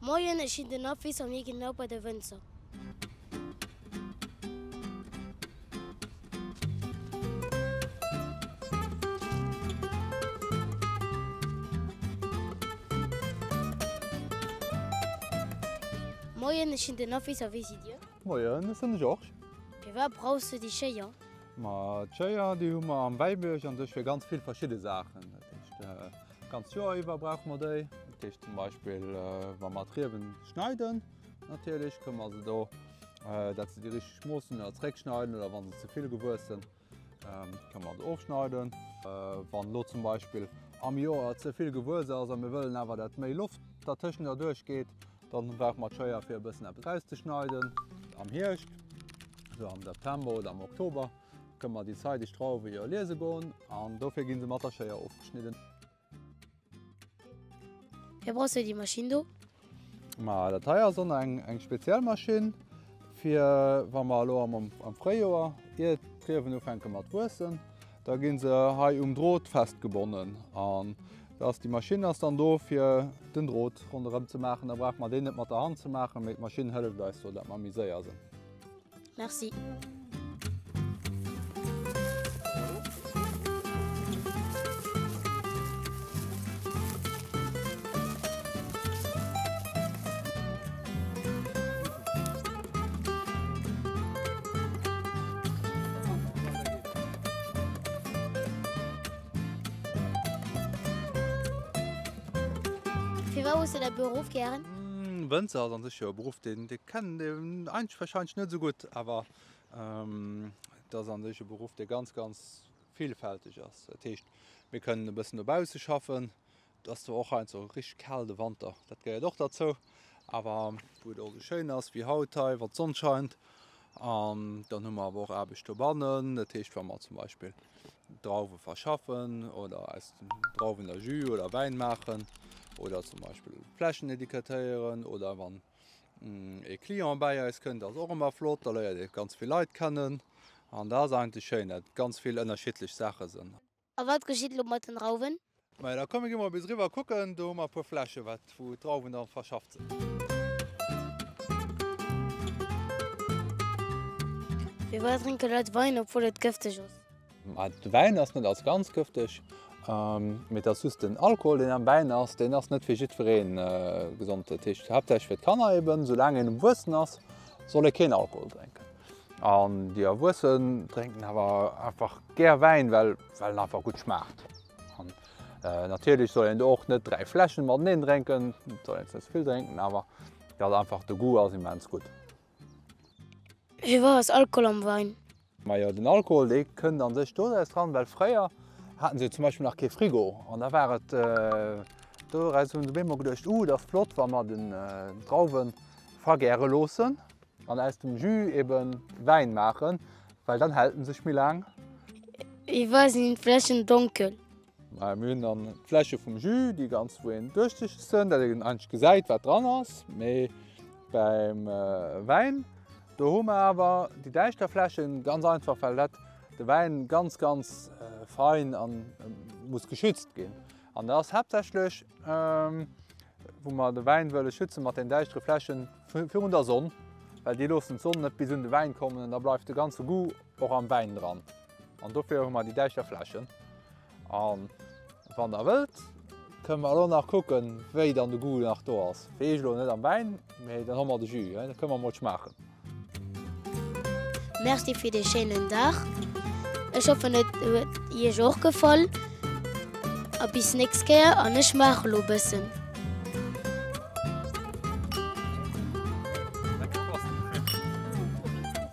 Moien, ech sinn den Apwiss an hie genau bei de Wënzer. Moien, ech sinn den Apwiss a wie sidd dir? Moien, ech sinn de Georges. Firwat brauchs du déi Schéier? Ma d'Schéier déi hu mer am Wäibierg an sech fir ganz vill verschidde Saachen. D'ganzt Joer iwwer brauche mer déi. Dat heescht zum Beispill wa mer d'Riewen schneiden, natierlech kënne mer se do, dat se déi richteg Mooss hunn, oder zréckschneiden, oder wa se ze vill gewuessen, kënne mer se ofschneiden. Wann elo zum Beispill am Joer ze vill gewuess ass a mir wëllen awer, dat méi Loft dertëschent erduerch geet, da brauche mer d'Schéier fir e bëssen eppes erauszeschneiden. Am Hierscht, esou am September oder am Oktober, Kënne mer déi zeideg Drauwe jo liese goen an dofir gi se mat der Schéier ofgeschnidden. Fir brauchst du déi Maschinn do? Ma dat hei ass an eng speziell Maschinn fir wa mer elo am Fréijoer, ier d'Riewen ufänke mat wuessen, da gi se hei um Drot festgebonnen an da ass déi Maschinn ass dann do fir den Drot ronderëm ze maachen. Da brauche mer deen net mat der Hand ze maachen, mee d'Maschinn hëlleft eis do, dat mer méi séier sinn. Merci. Firwat hues de däi Beruff gären? Wënzer ass an sech jo e Beruff, deen, dee Kennen deen eenzeg wahrscheinlech net esou gutt, awer et ass an sech e Beruff dee ganz ganz villfälteg ass. Dat heescht mir kënnen e bëssen dobausse schaffen, et ass zwar och hei so richteg kal de Wanter, dat gehéiert och derzou, awer wou et och esou schéin ass wéi haut hei, wann d'Sonn scheint. An dann hu mer awer och Aarbecht dobannen, dat heescht wa mer zum Beispill Drauwe verschaffen oder aus Drauwen der Jus oder Wäin maachen oder zum Beispill Flächen étiquetéieren oder wann. ee Client bäi eis kënnt ass och ëmmer flott, da léiert ee ganz vill Leit kennen an dat ass eigentlech schéin, dat et ganz vill ënnerschiddlech Saache sinn. A wat geschitt elo mat den Drauwen? Majo, da komm mir gi mol bis eriwwer kucken, do hu mer e puer Flächen, wat wou d'Drauwen da verschafft sinn. Firwat drénke Leit Wein, obwuel et gëfteg ass? De Wäin ass net als ganz gëfteg, mee et ass just den Alkohol, deen am Wäin ass, deen ass net fir jiddweree gesond. Dat heescht haaptsächlech fir d'Kanner eben. Soulaang een erwuessen ass, soll ee keen Alkohol drénken. An déi Erwuessen drénken awer einfach gär Wäin, well en einfach gutt schmaacht. An natierlech soll een do och net dräi Fläschen mateneen drénken, et soll een net ze vill drénken, awer well einfach de Goût ass immens gutt. Wéi war ass Alkohol am Wein? Majo den Alkohol dee kënnt an sech doraus dran, well fréier haten se jo zum Beispill nach kee Frigo an da war et doraus hunn se op eemol geduecht uh et ass flott wa mer den Drauwen vergäre loossen an aus dem Jus eben Wäin maachen, well dann hält en sech méi laang. Wéi war sinn d'Fläschen donkel? Mir hunn dann d'Fläsche vum Jus, déi ganz wou een duerchsichtegsen, dat een eigentlech gesäit wat dran ass. Mee beim Wäin do hu mer awer déi däischter Fläschen, ganz einfach well dat de Wäin ganz ganz fein a muss geschützt ginn. An da ass haaptsächlech wou mer de Wäin wëlle schützen mat den däischtere Fläschen virun der Sonn, well déi loossen d'Sonn net bis un de Wäin kommen an da bleift de ganze Goût och am Wäin dran. An dofir hu mer déi däischter Fläschen. An wann der wëllt, kënne mer elo nach kucken, wéi dann de Goût nach do ass. Fir eech elo net am Wäin, mee dann hu mer de Jus. Da kënne mer emol schmaachen. Merci fir dee schéinen Dag. Ech hoffen, et huet Iech och gefall. A bis nächst Kéier. An ech maache elo e bëssen.